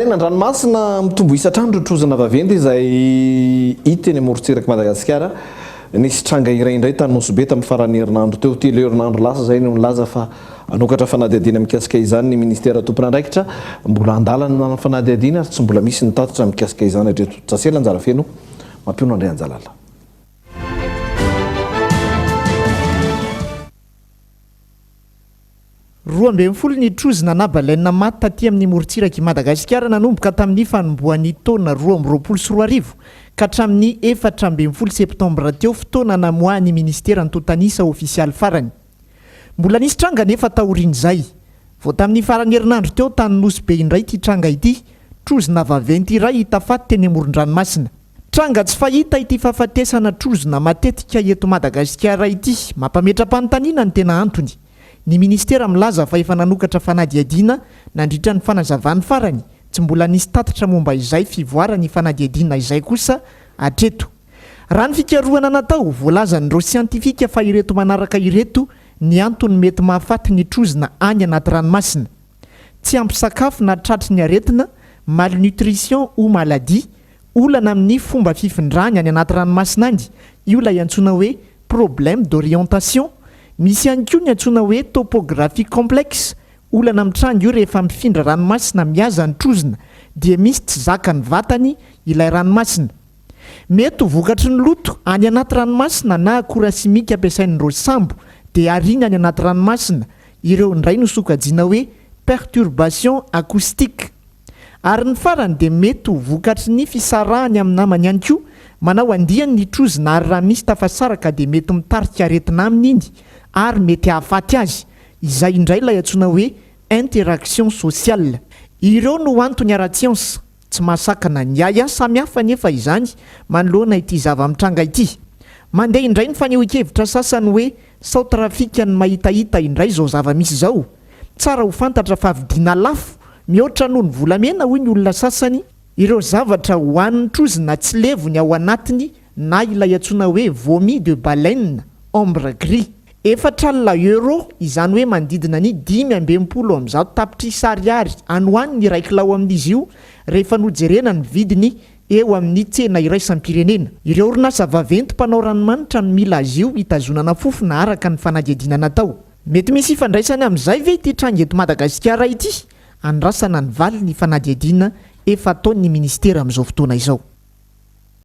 Tena an-dranomasina mitombo isa hatrany ireo trozona vaventy izay hita eny amorontsirak'i Madagasikara. Nisy tranga iray indray tany Nosy Be tamin'ny faran'ny herinandro teo, telo herinandro lasa izay no nilaza fa hanokatra fanadihadiana mikasika izany ny minisitera tompon'andraikitra. Mbola an-dalana ny fanadihadiana ary tsy mbola misy ny tatitra mikasika izany hatreto. Jasy Lanjarafeno mampiono Andrianjalala. Roa ambin'ny folo ny trozona na baleine maty taty amin'ny morontsirak'i Madagasikara nanomboka tamin'ny fanombohan'ny taona roa amby roapolo sy roa arivo ka hatramin'ny efatra ambin'ny folo septambra teo, fotoana namoahan'ny minisitera antontan'isa ofisialy farany. Mbola nisy tranga anefa taorian'izay. Vao tamin'ny faran'ny herinandro teo tany Nosy Be indray ity tranga ity, trozona vaventy iray hita faty teny amoron-dranomasina. Tranga tsy fahita ity fahafatesana trozona matetika eto Madagasikara ity. Mampametra-panontaniana ny tena antony. Ny minisitera milaza fa efa nanokatra fanadihadiana nandritra ny fanazavany farany, tsy mbola nisy tatitra momba izay fivoaran'ny fanadihadiana izay kosa hatreto. Raha ny fikarohana natao, voalazan'ireo siantifika fa ireto manaraka ireto ny antony mety mahafaty ny trozona any anaty ranomasina. Tsy ampy sakafo na tratry ny aretina, malnutrition ou maladie, olana amin'ny fomba fifindrany any anaty ranomasina any, io ilay antsoina hoe problème d'orientation. Misy ihany koa ny antsoina hoe topographie complexe, olana mitranga io rehefa mifindra ranomasina mihaza ny trozona dia misy tsy zakan'ny vatany ilay ranomasina. Mety ho vokatry ny loto any anaty ranomasina na akora simika ampiasain'ireo sambo dia ariana any anaty ranomasina Ireo indray no sokajiana hoe perturbation acoustique. Ary ny farany dia mety ho vokatry ny fisarahany amin'ny namany ihany koa, manao andiany ny trozona ary raha misy tafasaraka dia mety mitarika aretina aminy iny ary mety hahafaty azy, izay indray ilay antsoina hoe interaction sociale. Ireo no antony ara-tsiansa Tsy mahasakana ny ahiahy samy hafa anefa izany manoloana ity zava-mitranga ity. Mandeha indray ny fanehoan-kevitra sasany hoe sao trafika ny mahitahita indray izao zava-misy izao. Tsara ho fantatra fa vidiana lafo mihoatra noho ny volamena hoy ny olona sasany ireo zavatra hohanin'ny trozona tsy levony ao anatiny na ilay antsoina hoe vomi de baleine, ambre gris. Efatra alina euro, izany hoe manodidina ny dimy amby enimpolo amby zato tapitrisa ariary any ho any ny iray kilao amin'izy io, rehefa nojerena ny vidiny eo amin'ny tsena iraisam-pirenena. Ireo orinasa vaventy mpanao ranomanitra no mila azy io hitazonana fofona araka ny fanadihadiana natao. Mety misy ifandraisany amin'izay ve ity tranga eto Madagasikara ity? Andrasana ny valiny ny fanadihadiana efa ataon'ny minisitera amin'izao fotoana izao.